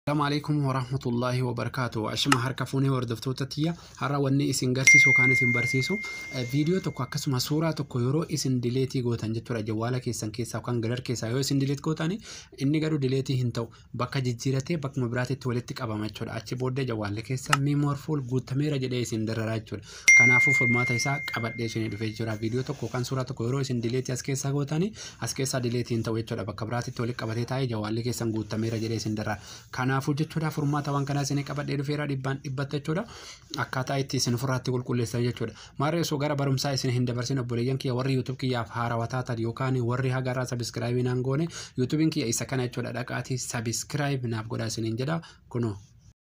Assalamu alaikum warahmatullahi wabarakatuh. Ashama harka fuunee hordoftoota tiyya har'a wanni isin garsiisu yookaan isin barsiisu viidiyoo tokko akkasuma suuraa tokko yeroo isin dileetii gootan jechuudha jawwaala keessan keessaa yookaan galar keessaa yoo isin dileet gootan inni garuu dileetii hin ta'u bakka jijjiiratee bakkuma biraatitti walitti qabama jechuudha achi booddee jawwaalli keessa miimoor fuul guutameera jedhee isin dararaa jechuudha Kanaafuu furmaata isaa qabadhee isinii dhufee jira. Viidiyoo tokko yookaan suuraa tokko yeroo isin dileetii as keessaa gootanii as keessaa dileetii hin ta'u jechuudha. Bakka biraatitti walitti qabatee taa'ee jawaalli keessan guuttameera jedhee isin darara. Kanaafuu jechuudha furmaata waan kanaa isinii qabadhee dhufeera dhibbaan dhibbatti jechuudha. Akkaataa itti isin ofirraatti qulqulleessan jechuudha. Maarree osoo gara barumsaa isin hin dabarsin obboleeyyan kiyya warri YouTube kiyyaaf haarawa taatan yookaan warri hagarraa sabiskiraayibii naan goone YouTubein kiyya isa kana jechuudha dhaqaatii sabiskiraayib naaf godhaa isiniin jedha kunoo.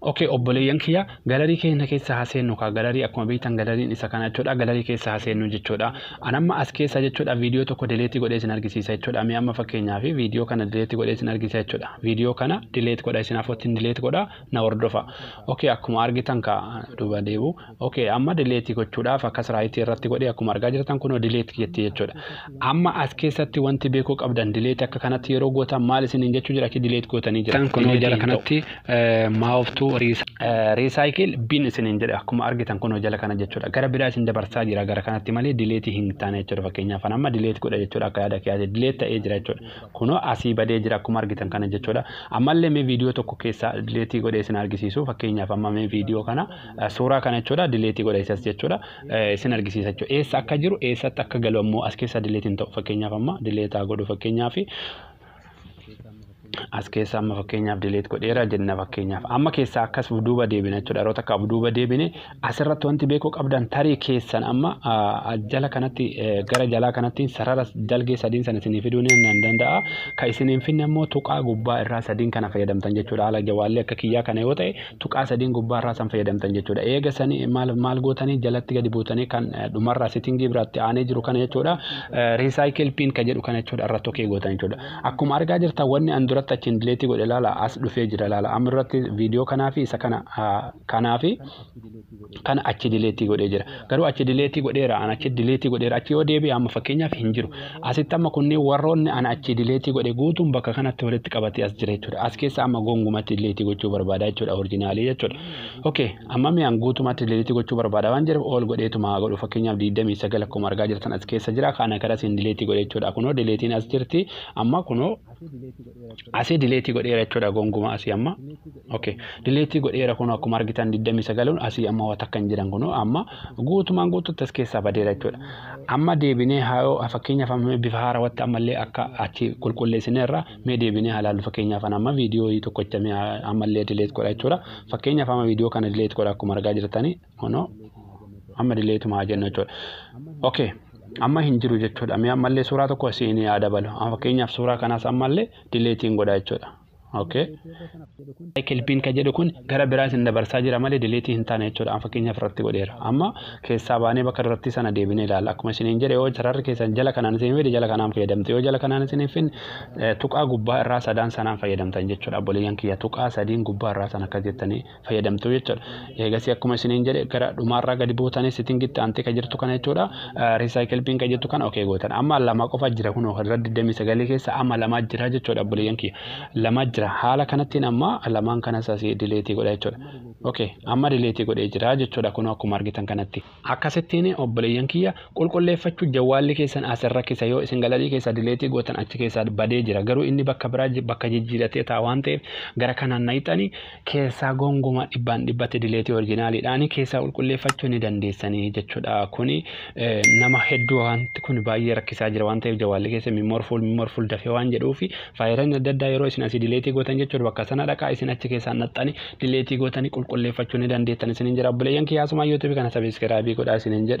Ok obboleeyyan kiyya galarii keenya keessa haa seennu kaa galarii akkuma beektan galariin isa kana jechuudha galarii keessa haa seennu jechuudha an amma as keessa jechuudha viidiyoo tokko dileetii godhee isin argisiisa jechuudha mee amma fakkeenyaaf viidiyoo kana dileetii godhee isin argisiisa jechuudha viidiyoo kana dileet godha isin afootiin dileet godha na hordofa ok akkuma argitan kaa duuba deebu ok amma delete gochuudhaaf akkas right irratti godhe akkuma argaa jirtan kunoo delete jetti jechuudha amma as keessatti wanti beekuu qabdan delete akka kanatti yeroo gootan maal isiniin jechuu jira achi delete gootanii jira Tan kunoo jala kanatti maawoftuu recycle bin isiniin jedhe akkuma argitan kunoo jala kana jechuudha gara biraa isin dabarsaa jira gara kanatti malee delete hin taane jechuudha fakkeenyaaf an amma delete godha jechuudha akka yaada kiyyaate delete ta'ee jira jechuudha kunoo asii badee jira akkuma argitan kana jechuudha ammallee mee viidiyoo tokko keessaa delete godhee isin argisiisu fakkeenyaaf amma mee viidiyoo kana Suuraa kana jechuudha dileetii godha isas jechuudha isin argisiisa jechuudha eessa akka jiru eessatti akka galu ammoo as keessaa dileetiin ta'u fakkeenyaaf amma dileetaa godhu fakkeenyaaf as keessaa amma fakkeenyaaf dileet godheera jenna fakkeenyaaf amma keessaa akkas duuba deebina jechuudha yeroo takka duuba deebine asirratti wanti beekuu qabdan tarii keessan amma jala kanatti gara jalaa kanatti sarara dalgee sadiin sana isinii fiduu ni danda'a kan isin hin finne immoo tuqaa gubbaa irraa sadiin kana fayyadamtan jechuudha haala jawaallee akka kiyyaa kana yoo ta'e tuqaa sadiin gubbaa irraa san fayyadamtan jechuudha. Eega sani maal maal gootanii jalatti gadi buutanii kan dhumarraa settingii biraatti aanee jiru kana jechuudha. Recycle pin ka jedhu kana jechuudha irratti okee gootan jechuudha. Akkuma argaa jirtan wanni an duratti achiin dileetii godhe laala as dhufee jira laala. Amma duratti viidiyoo kanaa fi isa kana kanaa fi kana achi dileetii godhee jira. Garuu achi dileetii godheera, an achi dileetii godheera, achi yoo deebi'e amma fakkeenyaaf hin jiru. Asitti amma kunniin warroonni an achi dileetii godhe guutuun bakka kanatti walitti qabatee as jira jechuudha. As keessa amma gongumatti dileetii gochuu barbaada jechuudha orijinaalii jechuudha. Okay, amma mee an guutumatti dileetii gochuu barbaada waan jedheef ool godheetuma haa godhu fakkeenyaaf 29 akkuma argaa jirtan as keessa jira kana karaa siin dileetii godhe jechuudha. Kunoo dileetiin as jirti amma kunoo asii dileetii godheera jechuudha gonguma asii amma. Ok deleetii godheera kunoo akkuma argitan 29 asii amma waa takka hin jiran kunoo amma guutumaan guututti as keessaa badeera jechuudha. Amma deebinee haayoo fakkeenyaaf amma bifa haarawatti ammallee akka achi qulqulleessineerra mee deebinee haa laallu fakkeenyaaf ana amma viidiyoo tokkocha mee ammallee dileet godha jechuudha. Fakkeenyaaf amma viidiyoo kana dileet godha akkuma argaa jirtanii kunoo amma dileetuma haa jennu jechuudha. Ok amma hin jiru jechuudha mee ammallee suuraa tokko siin haa dabalu fakkeenyaaf suuraa kanaas ammallee dileetiin godha jechuudha. Okay. Cycle pin kan jedhu kun gara biraa isin dabarsaa jira malee deleetii hin taane jechuudha. An fakkeenyaaf irratti godheera. Amma keessaa baanee bakka durattii sana deebinee ilaalla. Akkuma isiniin jedhe yoo sararri keessan jala kanaan isin fide jala kanaan fayyadamtu. Yoo jala kanaan isin hin fidne eh, tuqaa gubbaa irraa sadaan sanaan fayyadamtan jechuudha. Obboleeyyan kiyya tuqaa sadiin gubbaa irraa sana akka jettanii fayyadamtu jechuudha. Eegasii akkuma isiniin jedhe gara dhumaarraa gadi buutanii sitingitti aantee kan jirtu kana jechuudha. Recycle bin kan jirtu kana okee gootan. Amma lama qofa jira kunoo kan irra 29 keessa amma lamaa jira jechuudha obboleeyyan kiyya. Lamaa jira. Haala kanattiin amma lamaan kanas asii dileetii godha jechuudha. Okee amma dileetii godhee jira jechuudha kunoo akkuma argitan kanatti. Akkasittiin obboleeyyan kiyya qulqulleeffachuu jawwaalli keessan as irra kisa yoo isin galarii keessaa dileetii gootan achi keessaa badee jira garuu inni bakka biraa ji- bakka jijjiiratee ta'a waan ta'eef gara kanaan nayxanii keessaa gongumaa dhibbaan dhibbatti dileetii orjinaaliidhaanii keessaa qulqulleeffachuu ni dandeessanii jechuudha kuni eh, nama hedduu wanti kun baay'ee rakkisaa jira waan ta'eef jawwaalli keessa mimorfuul mimorfuul dafee waan jedhuu fi faayiranii adda addaa yeroo isin asii dileetii gootan jechuudha bakka sana dhaqaa isin achi keessaa naxxanii dileetii gootanii qulqulleeffachuu ni dandeettan isiniin jedha obboleeyyan kiyyaa asumaan yuutuubii kana sabiskiraabii godhaa isiniin jedha.